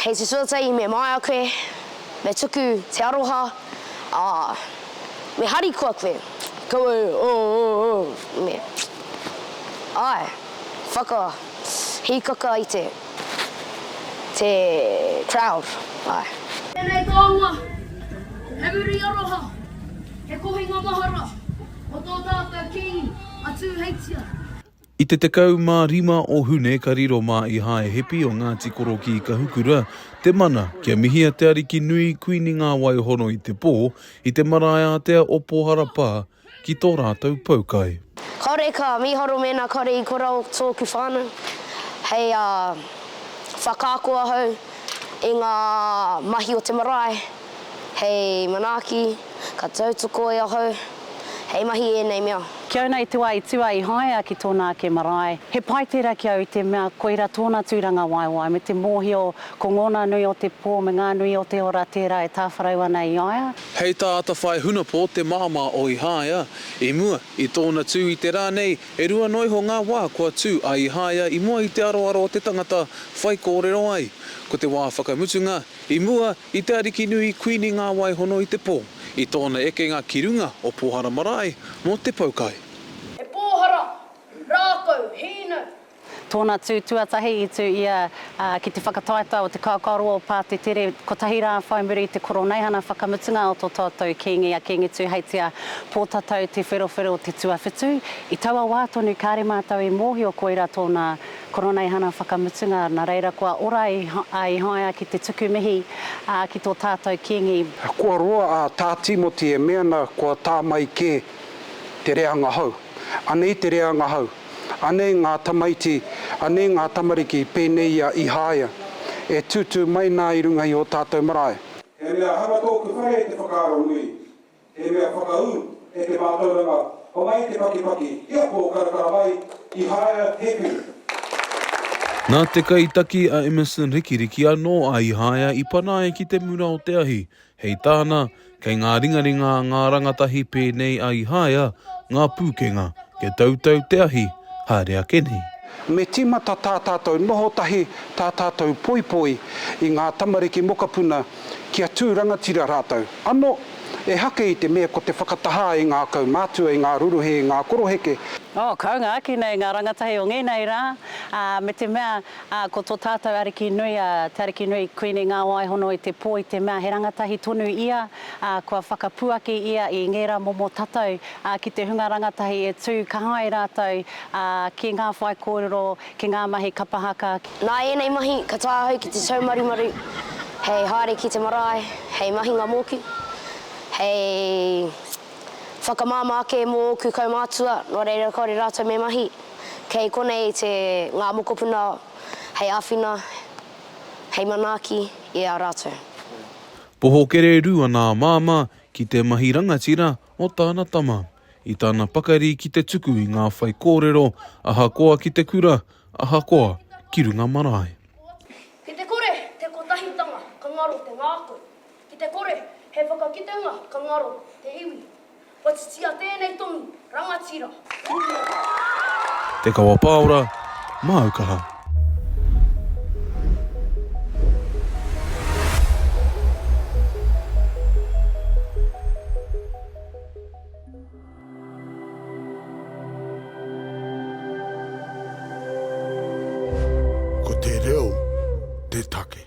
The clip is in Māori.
Hei te tuatahi me māia koe, me tuku te aroha, ā, me harikoa koe, kaua e ō-ō-ō, me, āe, whaka, hīkaka i te, te crowd, āe. Tēnei taonga, he muri aroha, he kohinga mahara mō tō tātou Kīngi a Tūheitia. I te 15 o Hune ka riro mā Ihae Hepi o Ngāti Koro ki Kahukura te mana kia mihia te ariki nui Kuini Ngāwaihono i te pō i te marae ātea o Pōhara pā ki tō rātou poukai. Kāore ka mīharo mēnā kāore i kora tōku whānau hei whakaako ahau i ngā mahi o te marae. Hei manaaki, ka tautoko e ahau, hei mahi ēnei mea. Ki au nei te wā i tua i haea ki tōna ake marae. He pai tērā ki au i te mea koira tōna tūrangawaewae me te mōhio ko ngōna nui o te pō me ngā nui o te ora tērā e tāwharau ana i a ia. Hei tā Atawhai Hunapō te māmā o Ihāia, i mua i tōna tū i te rā nei, e rua noa iho ngā wā kua tū a Ihāia i mua i te aroaro o te tangata whaikōrero ai. Ko te wā whakamutunga, I mua i te Arikinui Kuini Ngāwaihono i te pō, i tōna ekenga ki runga o Pōhara Marae mō te pau kai. He pōhara, rākau, hīnau. Tōna tū tuatahi i tū ia ki te whakataetae o te kākāroa o Pātetere kotahi rā whai muri i te Koroneihana whakamutunga o tō tātou Kīngi a Kīngi Tūheitia Pōtatau Te Wherowhero Te Tuawhitu. I taua wā tonu kāre mātou i mōhio koirā tōna Koroneihana whakamutunga, na reira kua ora a Ihaia ki te tuku mihi a ki to tatou kingi. Kua roa a ta Timoti e me ana kua ta mai ke te reanga hou. Anei te reanga hou, anei nga tamaiti, anei nga tamariki penei ia Ihaia, e tutu mai na i runga i o tatou marae. He mea hanga tōku whare te whakaaro nui. He mea whakaū e te mātauranga homai te pakipaki i a Pō Karakara mai i Haea Hēpiri. Nā te kaitaki a Emerson Rikiriki anō a Ihaea i pana ai ki te mura o te ahi. Hei tāna, kei ngā ringaringa a ngā rangatahi pēnei a Ihaea ngā pūkenga, kia tautau te ahi, haere ake nei. Me tīmata tā tātou noho tahi, tā tātou poipoi i ngā tamariki mokapuna kia tū rangatira rātou, ano, e hake i te mea ko te whakatahā e ngā kaumātua, e ngā ruruhē, e ngā koroheke. Oh, kaunga ake nei ngā rangatahi o ngēnei rā, ā, me te mea, ā, ko tō tātou Arikinui, a, te Arikinui Kuini Ngāwaihono i te pō i te mea he rangatahi tonu ia, ā, kua whakapuaki ia i ngērā momo tatau, ā, ki te hunga rangatahi e tū ka hae rātou, ā, ki ngā whaikōrero Ki ngā mahi kapa haka. Nā ēnei mahi ka tae ahau ki te taumarumaru hei haere ki te marae, hei mahinga mōku, hei whakamāmā ake mō ōku kaumātua nō reira kāore rātou me mahi. Kei konei te ngā mokopuna hei āwhina, hei manaaki i a rātou. Poho kererū ana a Māmā ki te mahi rangatira o tāna tama. i tana pakari ki te tuku i ngā whaikōrero ahakoa ki te kura, ahakoa ki runga marae. Ki te kore te kotahitanga ka ngaro te ngākau, ki te kore he whakakitenga ka ngaro te iwi. Kua titia tēnei tonu rangatira. Te Kawa Paora, māu kaha. Ko te reo te take.